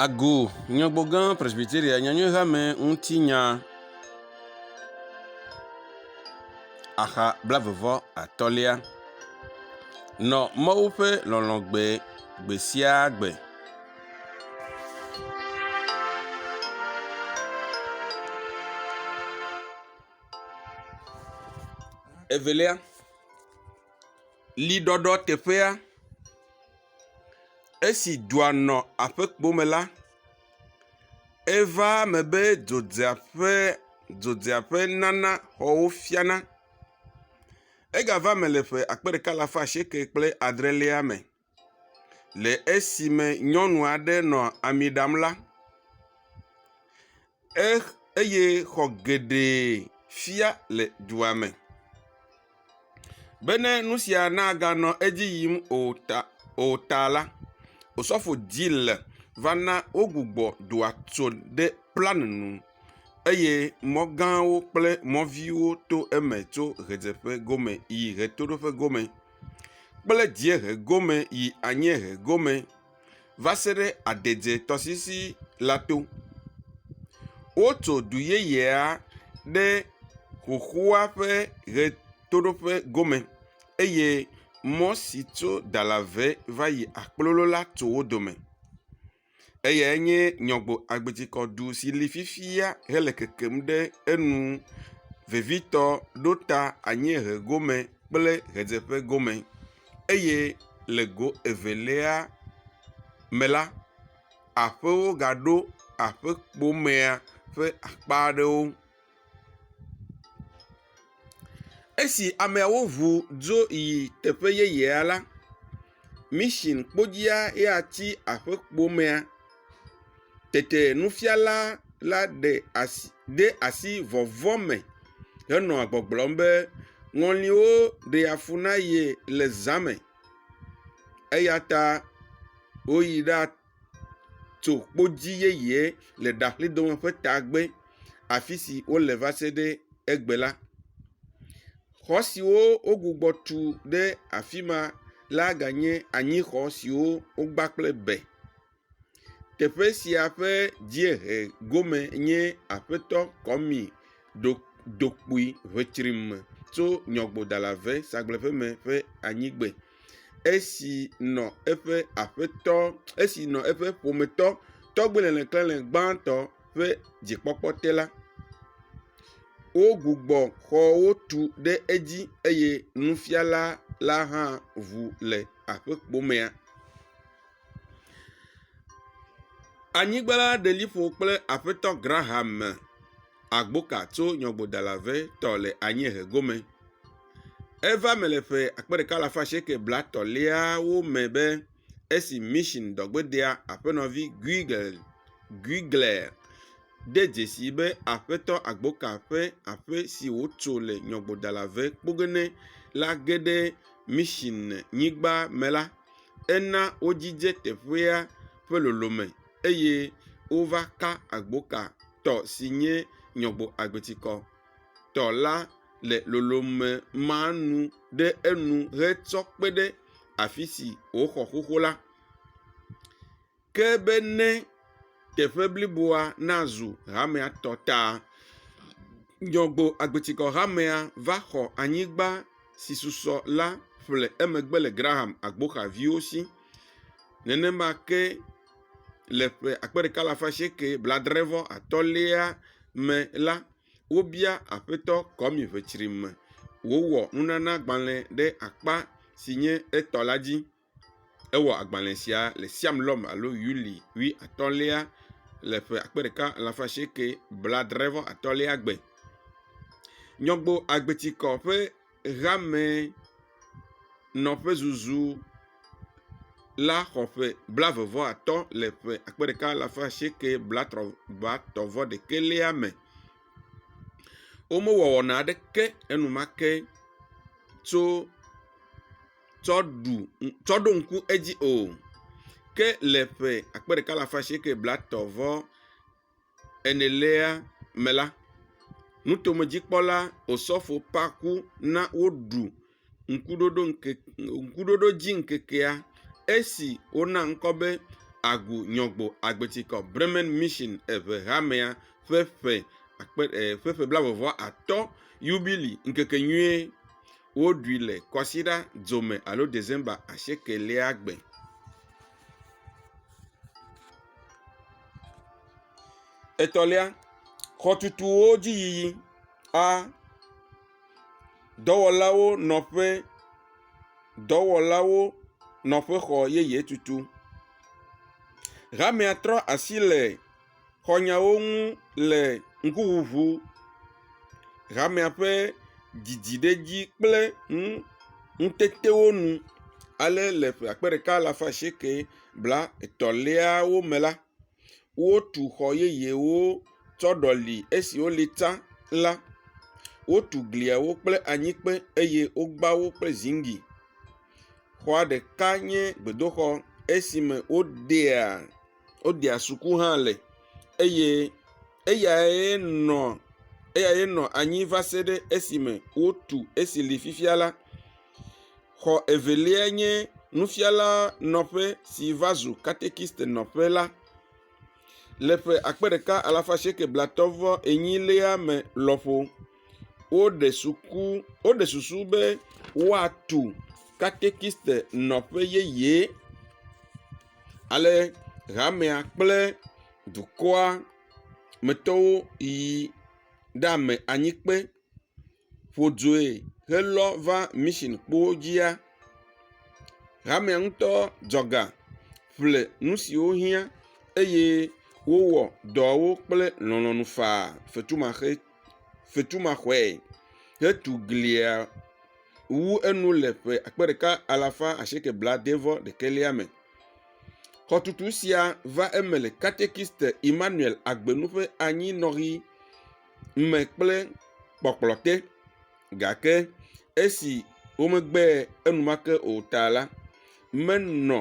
Agu Nyagbɔgã Presbyteria Nyanyuihamea ŋuti nya, axa blaeve vɔ atɔ̃lia, nɔ Mawu ƒe lɔlɔ̃ gbe gbe sia gbe. Evelia, liɖɔɖɔ teƒea, esi dua nɔ aƒekpo me la, eva eme be dzodzeaƒe dzodzeaƒe nana xɔwo fiana. Egava eme le ƒe akpe ɖeka alafa asieke kple adrelia me. le esime nyɔnu aɖe nɔ ami ɖam la, ex, eye xɔ geɖe fia le dua me. Bene nu sia naganɔ edzi yim o ta, o ta la, Osɔfo Gill va na wogbugbɔ dua tso ɖe plan nu eye mɔ gãwo kple mɔ viwo to eme tso ʋedzeƒe gome yi ʋetoɖoƒe gome. kple dziehe gome yi anyiehe gome va se ɖe aɖedze tɔsisi la to. Wotso du yeyea ɖe xoxoa ƒe ʋetoɖoƒe gome eye mɔ si tso Dalavɛ va yi Akpololo la tso wo dome. eyae nye nyɔgbo agbitsikɔɖu si li fifia hele kekem ɖe enu vevitɔ ɖo ta anyiehe gome kple ʋedzeƒe gome eye le go evelia me la, aƒewo gaɖo aƒekpo mea ƒe akpa aɖewo. Esi ameawo ŋu dzo yi teƒe yeyea la, mission kpodzia ya tsi aƒe kpo mea. Tete nufiala la ɖe asi ɖe asi vɔvɔ̃ me henɔ gbɔgblɔm be, Ŋɔliwo ɖea fu na ye le zã me eya ta woyi ɖa… tso kpodzi yeye le ɖaƒledome ƒe tagbe afi si wole va se ɖe egbe la. Xɔ siwo wogbugbɔ tu ɖe afi ma la ganye anyixɔ siwo wogba kple be. Teƒe sia ƒe dziehe gome nye Aƒetɔ Kwami ɖo Dokpui ŋetsrime tso Nyɔgbodalave Sagblẽƒeme ƒe anyigbe. esi nɔ eƒe aƒetɔ, esi nɔ eƒe ƒometɔ tɔgbe lẽklẽle gbãtɔ ƒe dzikpɔkpɔ te la, wogbugbɔ xɔwo tu ɖe edzi eye nufiala la hã ŋu le aƒekpo mea. Anyigba la ɖeli ƒo kple aƒetɔ Graham Agboka tso nyɔƒodala ʋe tɔ le anyiehe gome. Eva me le ƒe akpe ɖeka alafa asieke blatɔ̃liawo me be esi mission dɔgbedea aƒenɔvi Guigel Guigler de dzesi be aƒetɔ Agboka ƒe aƒe si wotso le nyɔƒodala ʋe kpogene la geɖe mission nyigba me la, Ena wodzidze teƒea ƒe nɔnɔme eye wova ka agbo ka tɔ si nye Nyɔgbo Agbetikɔ tɔ la le nɔnɔme ma nu ɖe enu hetsɔ kpe ɖe afi si woxɔ xoxo la. ke be ne teƒe bliboa nazu hamea tɔ ta, Nyɔgbo agbetikɔ hamea va xɔ anyigba si susɔ la ƒle emegbe le Graham agboxa viwo si. Nenema ke le ƒe akpe ɖeka alafa asieke blaadre vɔ atɔ̃lia me la, wobia Aƒetɔ Kwame Ʋetrime wòwɔ nunanagbalẽ ɖe akpa si nye etɔ la dzi. Ewɔ agbalẽ sia le Siam-Lɔm alo Yuli ƒe atɔ̃lia le ƒe akpe ɖeka alafa asieke blaadre-vɔ-atɔ̃lia gbe. Nyɔgbo agbetikɔ ƒe hame nɔƒezuzu la xɔ ƒe blaeve-vɔ-atɔ̃ le ƒe akpe ɖeka alafa asieke blatɔ̃-vɔ-ɖekɛlia me. Womewɔ wɔna aɖeke enumake tso. tsɔ ɖu tsɔ ɖo ŋku edzi o ke le ƒe akpe ɖeka alafa asieke blatɔ vɔ enelia me la, nutomedzikpɔla Osofo Parku na woɖu Ŋkuɖoɖo ŋke Ŋkuɖoɖo dzi ŋkekea esi wona ŋkɔ be Agu Nyɔgbo Agbetikɔ Bremen Mission Eŋehamea ƒe ƒe akpe e ƒe ƒe blaeve-vɔ-atɔ̃ yubili ŋkekenyuie. Woɖui le kwasiɖa dzome alo December asiekelia gbe. Etɔ̃lia, xɔtutuwo dzi yiyi, a, dɔwɔlawo nɔƒe, dɔwɔlawo nɔƒexɔ yeye tutu. Hamea trɔ asi le… xɔ nyawo ŋu le ŋkuŋuŋu, hamea ƒe didi ɖe edzi kple nutetewo nu ale le ƒe akpe ɖeka alafa asieke bla etɔ̃ liawo me la, wotu xɔ yeyewo tsɔ ɖɔli esiwo li tsã la. Wotu gliawo kple anyikpe eye wogba wo kple ziŋgli. Xɔa ɖeka nye gbedoxɔ esime wodea… wodea suku hã le eye eyae nɔ eyae nɔ anyi va se ɖe esime wotu esi li fifia la. Xɔ evelia nye nufiala nɔƒe si va zu katekist nɔƒe la. Le ƒe akpe ɖeka alafa asieke blatɔ vɔ enyi lea me lɔƒo woɖe suku woɖe susu be woatu katekist nɔƒe yeye. ale hamea kple dukɔa me tɔwo yi ɖe ame anyi kpe ƒo due helɔ va mission kpowo dzia, hamea ŋutɔ dzɔ ga ƒle nu siwo hiã eye wowɔ dɔawo kple lɔlɔ̃nu faa fetumaxe. fetumaxɔe hetu glia wu enu le ƒe akpe ɖeka alafa asieke blaade-vɔ-ɖekɛlia me. Xɔtutu sia va eme le Katekiste Immanuel Agbenu ƒe anyinɔɣi me kple kpɔkplɔ te gake esi womegbee enumake o ta la, menɔ.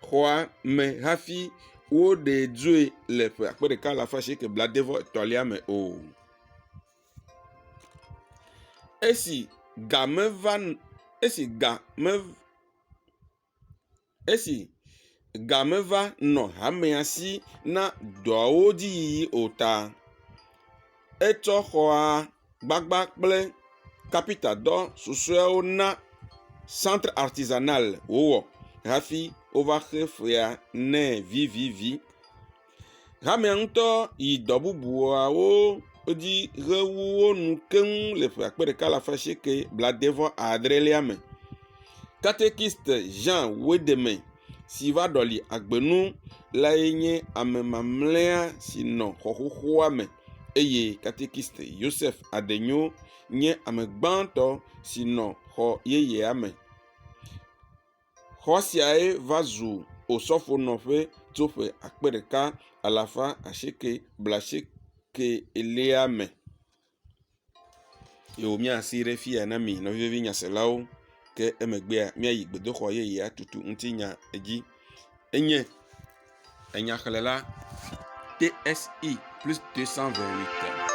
xɔa me hafi woɖe dzoe le ƒe akpe ɖeka alafa asieke blaade vɔ etɔ̃lia me o. Esi ga meva n… esi ga me… esi ga meva nɔ hamea si na dɔawo dzi yiyi o ta etsɔ xɔa gbagba kple kapita dɔ susuewo na centre artisanal wowɔ hafi wova xe fea nɛ vivivi. Hamea ŋutɔ yi dɔ bubuawo dzi he wo nu keŋ le ƒe akpe ɖeka alafa asieke blaade vɔ adrelia me. Katekist Ʒan Wedemɛn. si va ɖɔli agbe nu lae nye ame mamlɛa si nɔ xɔ xoxoa me eye katekiste Yosef Adenyo nye ame gbãtɔ si nɔ xɔ yeyea me. Xɔ siae va zu osɔfonɔƒe tso ƒe akpe ɖeka alafa asieke blaasieke elia me. ye womia asi ɖe fi ya na mi nɔvivi nyaselawo ke emegbea miayi gbedoxɔ yeye atutu ŋutinya edzi enye enyxlela TSE plus 228.